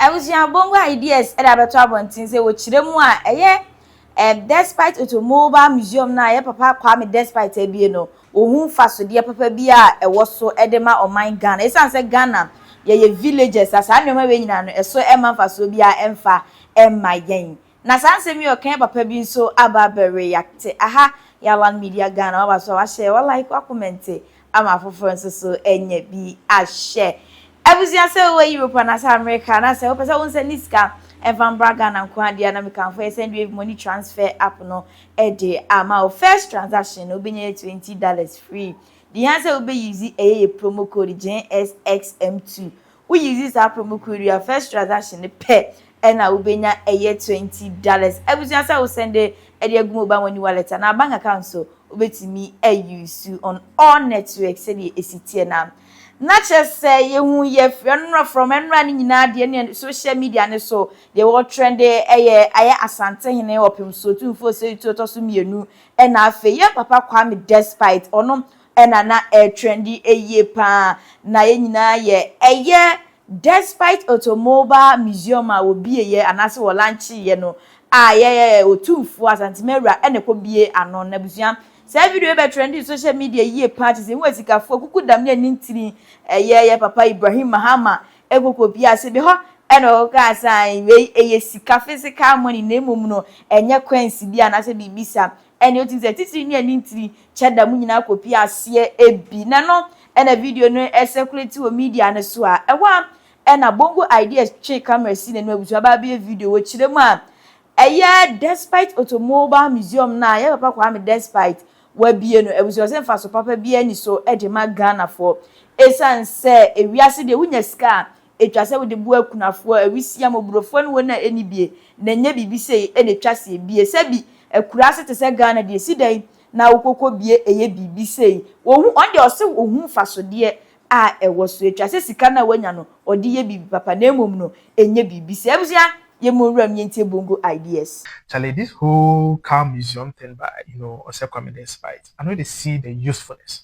Abusua bongo ideas ɛde abɛto abɔnten sɛ wɔkyerɛ mu a ɛyɛ eh, despite automobile museum na ɛyɛ papa kwame despite abie no wɔhu mfasodeɛ papa bi a ɛwɔ so ɛde ma ɔman ghana ɛsiane sɛ ghana yɛyɛ villages a saa nneɛma wei nyinaa no ɛso ɛma mfasoɔ bi a ɛmfa ɛmma yɛn Na saa nsɛm yi ɔka yɛ papa bi nso aba abɛwe yɛate aha Yalan media Ghana waba so a wahyɛ wa like wa comment ama afoforɔ nso so anya bi ahwɛ Abusua sɛ wowɔ Europe anaasɛ America anaasɛ wopɛ sɛ wo nsa ni sika ɛmfa mbra Ghana nko ara deɛ a na mekamfo yɛ Sendwave money transfer app no de ama wo first transaction no wobɛnya yɛ twenty dollars free deɛ hia sɛ wobɛ use ɛyɛ yɛ promo code GNSXM2 Woyi dzi saa promukuru yi a, first transaction no pɛ na wobenya yɛ twenty dollars. Ebusua sɛ wo send de agu mobile money wallet anaa bank account so wobetumi a use on all network sɛdeɛ esi teɛ no a. Na kyerɛ sɛ yehu yɛ frɛ no no from ɛnora no nyinaa deɛ ne social media no so deɛ wɔ trend ɛyɛ ayɛ Asantehene ɔpemsoɔ tumfoɔ Seitu ɔtɔ so mmienu ɛna afei yɛn papa Kwame Despite ɔno na na ɛretrendi yie paa na yɛn nyinaa yɛ ɛyɛ despite automobile museum a wɔbieeɛ anaase wɔ lancheeɛ no a yɛyɛ otumfoɔ asantemawura na ɛkɔ bie ano na busua saa video yɛ bɛ trendi social media yie paa te sɛ hu asikafoɔ kuku dam ne ani ntini ɛyɛ yɛ papa Ibrahim Mahama ɛkɔkɔ bie ase bi hɔ ɛna ɔkɔka asan wei ɛyɛ sika physical money na mmom no ɛnyɛ coins bi anaasɛ biribi saa Ɛne otim sɛ titiri ne ani ntiri kyɛ da mu nyinaa kɔpie aseɛ ɛbi na ɛno ɛna video no ɛsɛkulati wɔ media no so a ɛhɔ a ɛna Bongo Ideas twe camera si n'anim abutu aba abɛyɛ video wɔ kyerɛ mu a ɛyɛ Despite Automobile Museum no a yɛn papa Kwame Despite wabie no abusua sɛ mfaso papa biara ni so de ma Ghanafoɔ ɛsiane sɛ ewiase deɛ wonya sika a etwa sɛ wode boa akunafoɔ, awisiaa, mmɔborɔfoɔ ne wɔn a ɛnni bie, na ɛnyɛ biribi sei na ɛtwa seɛ, bie, sɛ bi, akuraase te sɛ Ghana deɛ, ɛsi dɛn na wokɔkɔ bie ɛyɛ biribi sei, wɔhu, ɔno deɛ ɔse ɔhu mfasodeɛ a ɛwɔ so, ɛtwa sɛ sika no a wanya no ɔde yɛ biribi papa na mmom no ɛnyɛ biribi sei. Abusua, yɛmmɔ nwura mu yɛntie bongo ideas. Charlie this whole cow museum thing by you know Osei Kwame despite I no dey see the usefulness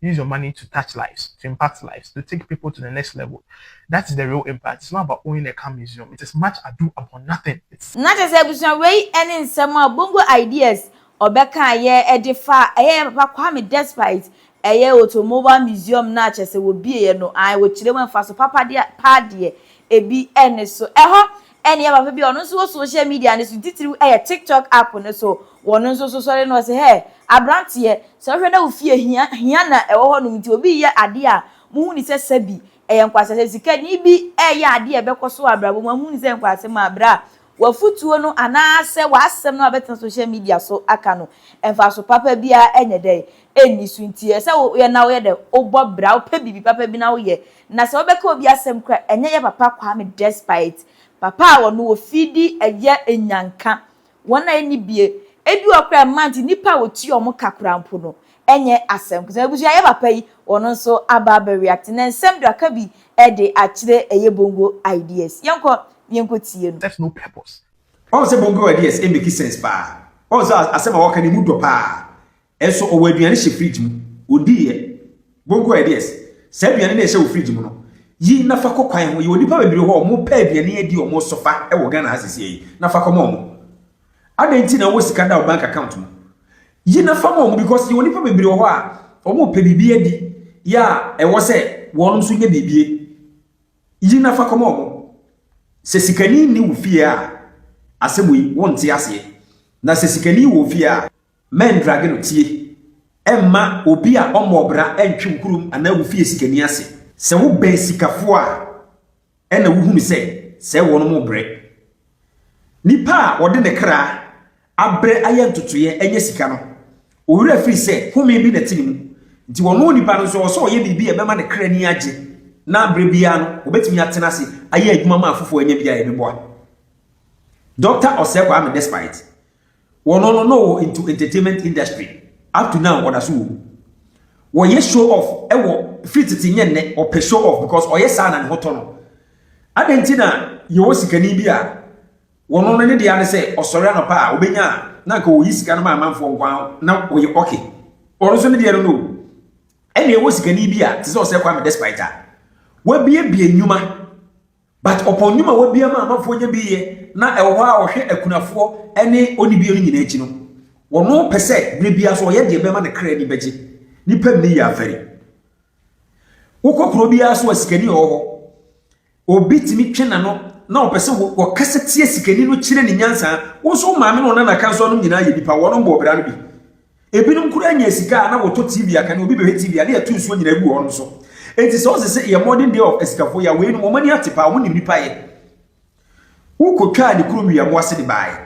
use your money to touch lives, to impact lives, to take people to the next level, that is the real impact, it's not about owning a car museum, it is much ado about nothing, it's. Na kyerɛ sɛ abusua wei ne nsɛm a Bongo Ideas ɔbɛkaeɛ de faa ɛyɛ yɛn papa Kwame Despite ɛyɛ Automobile Museum no a kyerɛ sɛ wɔbieeɛ no, ae wɔkyerɛ mu mfaso papa deɛ paa deɛ ebi nni so. Ɛhɔ Ɛnneɛ papa bi a ɔno nso wɔ social media no so, titiriw ɛyɛ TikTok app no so, ɔno nso so sɔre na ɔse, Hey, aberanteɛ, sɛ wohwɛ na wo fie hia, hia na ɛwɔ hɔnom nti obi reyɛ adeɛ a, mohu no sɛ sɛbi ɛyɛ nkwaseasɛm. Sɛ sikani bi reyɛ adeɛ a ɛbɛkɔ so wɔ abrabɔ mu a, mohu no sɛ nkwaseasɛm a, bra, w'afotuo no anaasɛ w'asɛm no a wobɛtena social media so aka no, mfaso papa biara nyɛ dɛn, nni so. Nti ɛsɛ sɛ woyɛ na woyɛ dɛn? Wobɔ bra, wopɛ biribi papa bi na woyɛ Na sɛ wobɛka obi asɛm kora a ɛnyɛ yɛ papa Kwame despite papa a ɔno wɔ fie di ɛyɛ nyanka wɔn a ɛnni bie ebi wɔ kora ɛma nti nnipa a wɔtua wɔn ka kora mpo no ɛnyɛ asɛm kora sɛ abusua yɛ papa yi ɔno nso aba abɛ react na nsɛm do aka bi ɛde akyerɛ ɛyɛ bongo ideas yɛnkɔ yɛnkɔ tie no. Serves no purpose. Wahu sɛ bongo ideas make sense paa. Wahu sɛ asɛm a wɔka no emu dɔ paa. Nso ɔwɔ aduane hyɛ fridge mu, ɔdiiɛ. Bonko ideas, saa aduane no a ɛhyɛ wo fridge mu no, yi na fa kɔ kwan ho. Yɛwɔ nnipa bebree hɔ a wɔpɛ aduane adi a wɔsofa wɔ Ghana ha seesei yi, na fa kɔma wɔn. Adɛn nti na wowɔ sika da wo bank account mu? Yi na fa ma wɔn because yɛwɔ nnipa bebree wɔ hɔ a wɔpɛ biribi adi yɛ a ɛwɔ sɛ wɔn nso nya biribi. Yi na fa kɔma wɔn. Sɛ sikani nni wo fie a, asɛm wei, wonte aseɛ. Na sɛ sikani wɔ wo fie a, Mɛndrage no tie. Mma obi a ɔmmɔɔ bra ntwe wo kurom anaa wo fie sikani ase. Sɛ wobɛn sikafo a, ɛnna wuhunu sɛ sɛɛ wɔnom rebrɛ. Nipa a ɔde ne kra abrɛ ayɛ ntotoeɛ anya sika no, owerɛ firi sɛ home bi na ɛte ne mu. Nti ɔno onipa no nso, ɛwɔ sɛ ɔyɛ biribi a ɛbɛma ne kra ani agye na berɛ biara no, ɔbɛtumi atena ase ayɛ adwuma ma afoforɔ anya bi a ɛbɛboa. Dɔkta Osei Kwame Despite Wɔno no na ɔwɔ into entertainment industry up to now ɔda so wɔ mu. Wɔyɛ show off wɔ firi tete nyɛ nnɛ ɔpɛ show off because ɔyɛ saa na ne ho tɔ no. Adɛn nti na yɛwɔ sikani bi a wɔno no ne dea ne sɛ ɔsɔre anɔpa a ɔbɛnya a na anka ɔyi sika no ma amanfoɔ nko ara na ɔyɛ okay. Ɔno nso ne deɛ no no o. Ɛna yɛwɔ sikani bi a te sɛ ɔsɛ Kwame Despite a wabiebie nnwuma But ɔpɔn nnwuma a wabia ma amanfoɔ nya bi yɛ na ɛwɔ hɔ a ɔhwɛ akunafoɔ ne ɔnibie no nyinaa akyi no, ɔno pɛ sɛ berɛ biara so ɔyɛ deɛ bɛma ne kra ani bɛgye. Nipa mini yɛ afɛre. Wokɔ kuro biara so a sikani ɔwɔ hɔ. Obi tumi twe n'ano na ɔpɛ sɛ ɔkasa tia sikani no kyerɛ ne nyansa. Wo nso wo maame ne wo nana ka nso anom nyinaa yɛ nipa, wɔnom bɔ ɔbra no bi. Ebinom koraa nya sika a na wɔtɔ TV a kane obi bɛhwɛ TV a na yɛto nsuo nyinaa gu hɔ no so. Enti sɛ ɔse sɛ yɛ modern day of asikafoɔ yi a, weinom wɔn ani ate paa, wɔn nim nipa yɛ. Wokɔtwaa ne kurom Wiamoase de baaɛ.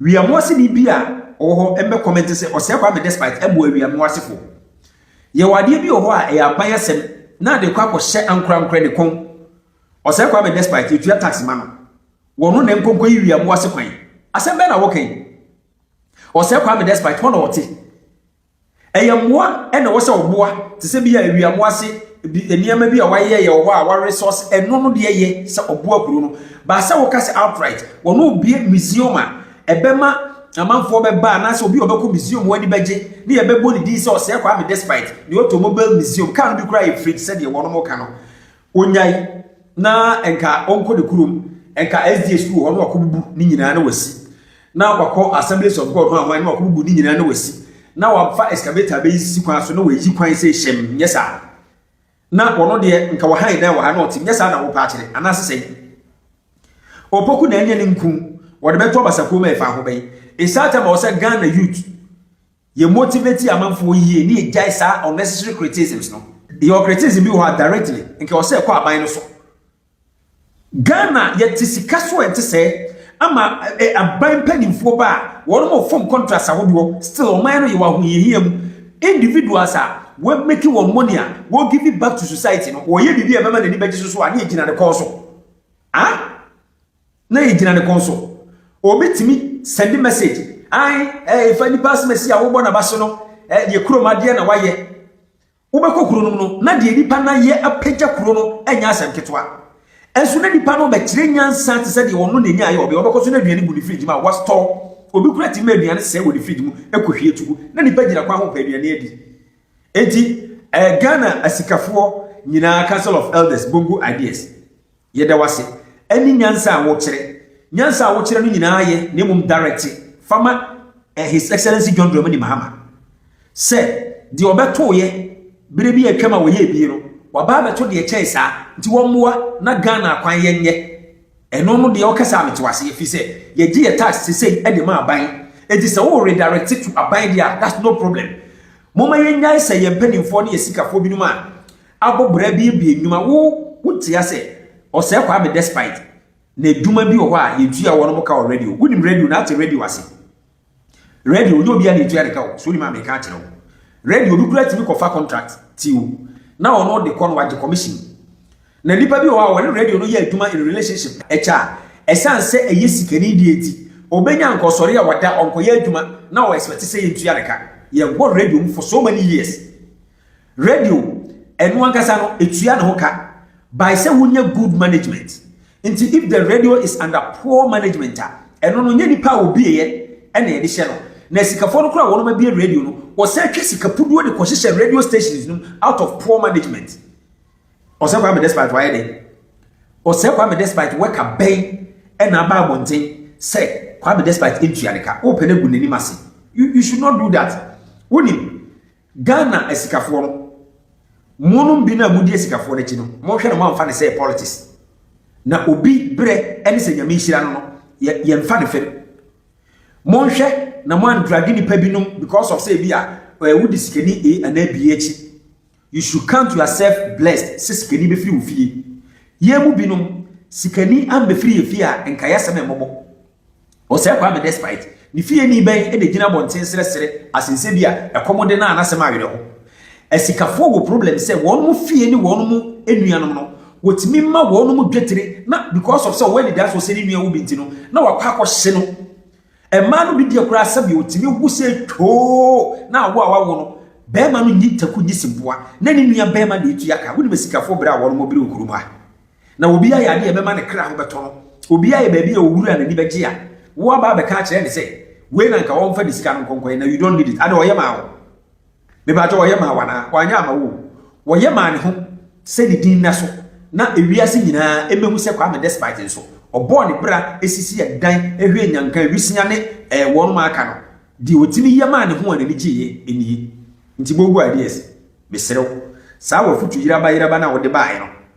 Wiamoase ni bi a ɔwɔ hɔ mmɛ comment sɛ ɔsɛe Kwame Despite mmoa Wiamoasefoɔ. Yɛwɔ adeɛ bi wɔ hɔ a ɛyɛ aban asɛm na ade kɔ akɔ hyɛ ankorankorɛ ne kɔn. Ɔsɛe Kwame Despite yɛtua tax ma no. Wɔno na ɛnkɔ nkɔyi Wiamoase kwan. Asɛm bɛn na wɔka yi? Ɔsɛe Kwame despite hɔ na ɔte. Ɛyɛ mmoa na ɛwɔ sɛ ɔboa te sɛ bi a awiamoa ase bi nneɛma bi a wɔayɛ yɛ wɔ hɔ a wɔaresource ɛno no deɛ yɛ sɛ ɔboa kuro no. Baa sɛ woka sɛ outright wɔn obie museum a ɛbɛma amanfoɔ bɛba anaasɛ obi a ɔbɛkɔ museum wɔn ani bɛgye ne yɛbɛbɔ ne din sɛ ɔsɛe Kwame despite deɛ ɔtɔ mobile museum kaa no bi koraa yɛ fridge sɛdeɛ wɔn mo ka no. ɔnyae na nka ɔnkɔ ne kurom nka sda sukuu hɔ na wakɔbubu ne nyinaa na wasi na wakɔ assemblies of god ho ahoan na wakɔbubu ne nyinaa na wasi na wafa excavator bɛyi sisi kwan so na wayi kwan sɛ hyɛm nyɛ saa na wɔno deɛ nka wɔhan dan wɔ ha na ɔte nyɛ saa na wopɛ akyerɛ anaasɛ sɛn ɔpoku na ɛnyɛ ne nku wɔde bɛto abasakuo ma ɛfa ho bɛyi ɛsaa tɛ ma wɔ sɛ ghana youth Yɛ motivate amanfoɔ yie ne yɛgyae saa unnecessary criticisms no. Yɛwɔ criticism bi wɔ hɔ a directly nka ɛwɔ sɛ ɛkɔ aban no so. Ghana yɛte sika so a ɛnte sɛɛ ama aban mpanimfoɔ ba a wɔnom wɔ form contracts ahodoɔ still ɔman no yɛwɔ ahohiahia mu. Individuals a wɔ make wɔn money a wɔ give it back to society no ɔyɛ biribi a ɛbɛma n'ani bɛgye so so a ne yɛgyina ne kɔn so. Ah! Na egyina ne kɔn so. Obi tumi sɛnde message ae eh fa nipa asem asi a wobɔ nabase no eh deɛ kurom adeɛ na wayɛ. Wobɛkɔ kuro nom no na deɛ nipa no ayɛ apagya kuro no ɛnyɛ asɛm ketewa. Nso na nipa no bɛkyerɛ nyansa te sɛ deɛ ɔno na ɛnyaeɛ ɔbɛ ɔbɛkɔ so na aduane gu ne fridge mu a wa store. Obi kura tumi ma aduane sɛe wɔ ne fridge mu ɛkɔ hwie tu gu na nipa gyina kwan ho pɛ aduane adi. Enti eh Ghana asikafoɔ nyinaa council of elders bongo ideas. Yɛda wo ase ɛne nyansa a wokyerɛ. Nyansa a wokyerɛ no nyinaa yɛ na mmom direct fa ma eh His Excellency John Dramani Mahama sɛ deɛ ɔbɛtoeɛ berɛ bi a atwam a ɔyɛɛ bie no waba abɛto deɛ ɛkyɛn saa nti wɔmmoa na Ghana akwan yɛ nyɛ ɛno no deɛ ɔkasa a mete wo ase ɛfiri sɛ yɛgye yɛ tax sesei ɛde ma aban ɛnti sɛ wo redirect to aban deɛ a that's no problem momma yɛnnyae sɛ yɛn mpaninfoɔ ne yɛ sikafoɔ binom a Abɔbra abiebie nnwuma wo wo ntia sɛ ɔsɛɛ kwame despite na adwuma bi wɔ hɔ a yɛtua wɔ nom ka wɔ radio wo nim radio na ate radio ase radio nyɛ obia na yɛtua ne ka o so nim a meka akyerɛ wo radio obi kura timi kɔ fa contract ti o na ɔno ɔde kɔ no wagye commission na nipa bi wɔ hɔ a wɔne radio no yɛ adwuma in relationship ɛkyɛ a ɛsan sɛ ɛyɛ sikani deɛ ti obɛnya nka ɔsɔre a wada ɔnkɔyɛ adwuma na ɔ expect sɛ yɛntua ne ka yɛwɔ radio mu for so many years Radio, ɛno ankasa no ɛtua ne ho ka by sɛ wonyɛ good management. Nti if the radio is under poor management a, ɛno no nyɛ nipa a ɔbieɛ ɛna yɛde hyɛ no. Na asikafoɔ no koraa a wɔnom abie radio no, wɔsan twa sika puduo de kɔhyehyɛ radio stations nom out of poor management. Ɔsɛ Kwame Despite wayɛ dɛn? Ɔsɛ Kwame Despite wɛka bɛn ɛna aba abɔnten sɛ Kwame Despite ntua ne ka, wopɛ no agu n'anim ase. You, you should not do that. Wonim, Ghana asikafoɔ no, mo nom bi no a mo di asikafoɔ no akyi no, mo nhwɛ no mo anfa no sɛ politics. Na obi berɛ ɛne sɛ Nyame nhyira no no, yɛ yɛ nfa no fam. Mo nhwɛ na mo andrage nipa bi nom because of sɛ ebi a ɛɛ wo di sikani A anaa B akyi. You should count yourself blessed sɛ sikani bɛfiri wo fie. Yɛn mu bi nom, sikani ambɛfiri yɛn fie a nka yɛ asɛm ɛmmɔbɔ. Ɔsɛe Kwame despite ne fieni bɛn na egyina abɔnten srɛsrɛ asensɛ bi a ɛkɔm de no a n'asɛm awere ho. Asikafoɔ wɔ problem sɛ wɔnom fie ne wɔnom nuanom no wɔtumi ma wɔnom dwetire na because of sɛ ɔwɔ anidasoɔ sɛ ne nua awu bi nti no na wakɔ akɔ hye no. Mmaa no bi deɛ koraa sɛbea ɔtumi wo sɛ twoo na awo a wawo no barima no nyi taku nyi seboa na ne nua barima na ɛtua ka. Wonim asikafoɔ brɛ a wɔnom brɛ wɔ kurom ha. Na obiara yɛ adeɛ a ɛbɛma ne kra ho bɛtɔ no. Obiara yɛ baabi a owura n'ani bɛgye a, woaba abɛka akyerɛ ne sɛ, wei na nka ɔmfa ne sika no nkɔnkɔyɛ na you don't need it. Ade ɔyɛ maa wo? Mepakyɛ ɔyɛ maa wo anaa? Wanyɛ ama wo o. Ɔyɛ maa ne ho sɛ ne din nna so na ewiase nyinaa mmɛhu sɛ Kwame despite nso ɔbɔɔ ne bra sisi ɛdan hwɛɛ Nyanka, Awisia ne eh, wɔnom a aka no. Deɛ ɔtumi yɛ maa ne ho a n'ani gyeeɛ nie. Nti Bogu Ideas, mesrɛ wo, saa w'afutu yeraba yeraba no a wode baeɛ no,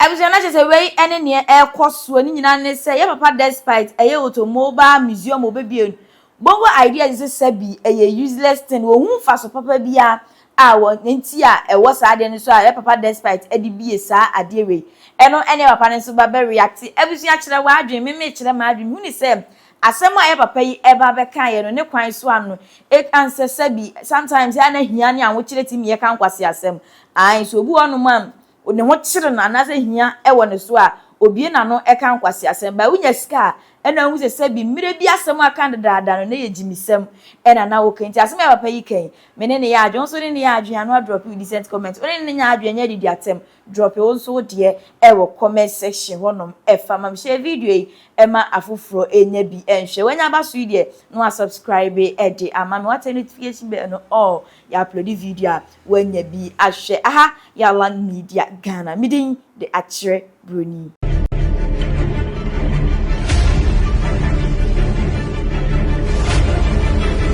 Abusua na kyesɛ wei ɛne neɛ ɛkɔ soɔ ne nyina ne sɛ yɛ papa despite ɛyɛ automobile museum ɔbɛbie no bongo ideas ne sɛ sɛbi ɛyɛ useless thing ɔhu mfaso papa bia a wɔ nti a ɛwɔ saa adeɛ no so a yɛ papa despite ɛde bie saa adeɛ wei ɛno ɛne yɛ papa no nso ba bɛ reacte abusua kyerɛ w'adwen me mekyerɛ m'adwen huni sɛ Asɛm a yɛ papa yi ɛba abɛka yɛ no ne kwan so a no et ansɛ sɛbi sometimes a na hia ne ahokyere timi yɛ ka nkwase asɛm ae so obi wɔ hɔ nom a ne ho kyere no anaasɛ hia ɛwɔ ne so a obie n'ano ɛka nkwase asɛm by wonya sika a ɛna wohu sɛ sɛbi mmere bi asɛm a ka dedaada no na yɛ gyimisɛm ɛna na woka nti asɛm a yɛ papa yi ka yi me ne ne yɛ adwen wo nso wo ne ne yɛ adwen ano adrɔpi wo decent comment wo ne ne nyɛ adwen ɛnyɛ adidi atɛm Drop wo nso wo deɛ ɛwɔ comment section hɔ nom ɛfa ma me. Share video yi ɛma afoforɔ ɛnya bi ɛnhwɛ. Wanya aba so yi deɛ na wa subscribe ɛde ama me. Wate notification bell no all. Yɛ upload video a wanya bi ahwɛ. Aha yɛ Alan Media Ghana. Me din de Akyerɛ Broni.